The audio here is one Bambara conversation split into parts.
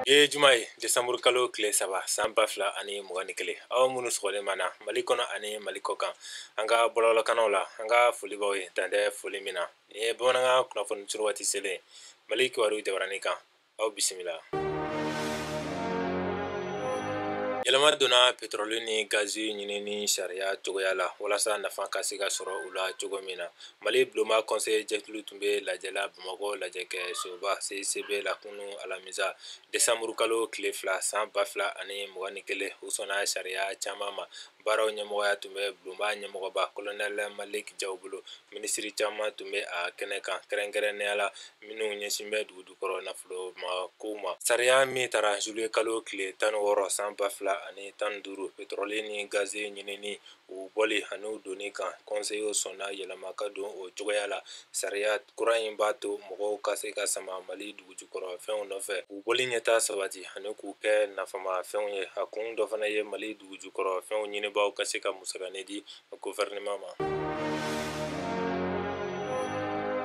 ye juma ye desanburu kalo tile saba san ba fila ani mugan ni kelen aw minnu sɔgɔlen b'an na mali kɔnɔ ani mali kɔ kan an ka bɔlɔlɔkannaw la an ka foli b'aw ye dan tɛ foli min na nin ye bamanankan kunnafoni suru waati selen mali kibaru jabarani kan aw bisimila yɛlɛma donna petrɔli ni gazi ɲinini sariya cogoya la walasa nafa ka se ka sɔrɔ u la cogo min na Mali bulonba kɔnseyi jɛkulu tun bɛ lajɛ la bamakɔ lajɛkɛsoba CICB la kunun alamisa desanburu kalo tile fila san ba fila ani mugan ni kelen u sɔnna sariya caman ma baaraw ɲɛmɔgɔya tun bɛ bulonba ɲɛmɔgɔba kolonɛli maliki jaw bolo minisiri caman tun bɛ a kɛnɛ kan kɛrɛnkɛrɛnnenya la minnu ɲɛsin bɛ dugujukɔrɔ nafoloma kow ma sariya min tara zuluye kalo tile tan wɔɔrɔ san ba fila ani tan duuru petrɔli ni gazi ɲinini u bɔli ani u donni kan kɔnseyi sɔnna yɛlɛma ka don o cogoya la sariya kura in b'a to mɔgɔw ka se ka sama mali dugujukɔrɔ fɛnw nɔfɛ u bɔli ɲɛtaa sabati ani k'u kɛ nafama fɛnw ye a kun dɔ fana ye mali dugujukɔrɔ fɛnw ɲinibaaw ka se ka musakanin di gofɛrɛnaman ma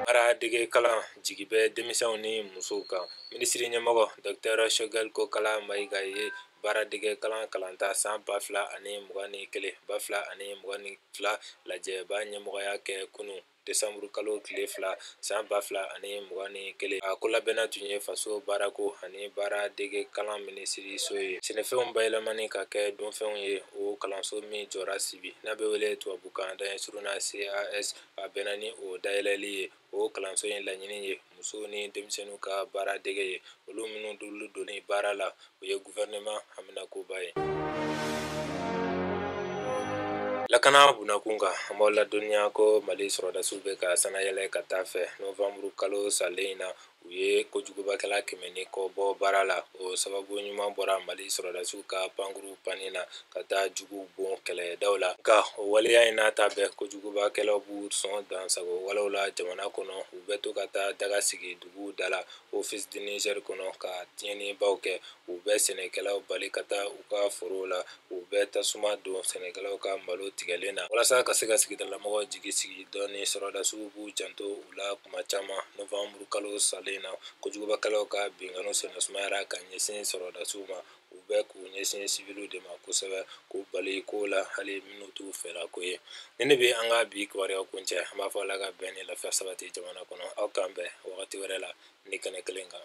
baara dege kalan jigi bɛ denmisɛnw ni musow kan minisiri ɲɛmɔgɔ dɔtɛrɛ sogɛli kokala mayiga ye baaradege kalan kalanta san ba fila ani mugan ni kelen ba fila ani mugan ni fila lajɛba ɲɛmɔgɔya kɛ kunun desanburu kalo tile fila san ba fila ani mugan ni kelen a ko labɛnna tun ye faso baarako ani baaradege kalan minisiriso ye sɛnɛfɛnw bayɛlɛmani ka kɛ dunfɛnw ye o kalanso min jɔra sibi n'a bɛ wele tubabukan daɲɛ surun na cas a bɛnna ni o dayɛlɛli ye o kalanso in laɲini ye musow ni denmisɛnninw ka baara dege ye olu minnu d'olu donni baara la o ye gofɛrɛnaman haminankoba ye lakana bunnakun kan an b'aw ladɔnniya ko mali sɔrɔdasiw bɛ ka sannayɛlɛ ka taa fɛ nowanburu kalo salen in na u ye kojugubakɛla kɛmɛ ni kɔ bɔ baara la o sababu ɲuman bɔra mali sɔrɔdasiw ka pankuru panni na ka taa juguw bon kɛlɛdaw la nka o waleya in n'a ta bɛɛ kojugubakɛlaw b'u sɔn dansagon walew la jamana kɔnɔ u bɛ to ka taa daga sigi duguw da la office du niger kɔnɔ ka tiɲɛnibaw kɛ u bɛ sɛnɛkɛlaw bali ka taa u ka forow la U bɛ tasuma don sɛnɛkɛlaw ka malo tigɛlen na walasa ka se ka sigidalamɔgɔw jigi sigi dɔɔnin sɔrɔdasiw b'u janto u la tuma caman nowanburu kalo salen na kojugubakɛlaw ka binkanni sennasumayara ka ɲɛsin sɔrɔdasiw ma u bɛ k'u ɲɛsin siwiliw de ma kosɛbɛ k'u bali kow la hali minnu t'u fɛlako ye nin de bɛ an ka bi kibaruyaw kuncɛ an b'a fɔ ala ka bɛn ni lafiya sabati jamana kɔnɔ aw k'an bɛn wagati wɛrɛ la ni kɛnɛ kelen kan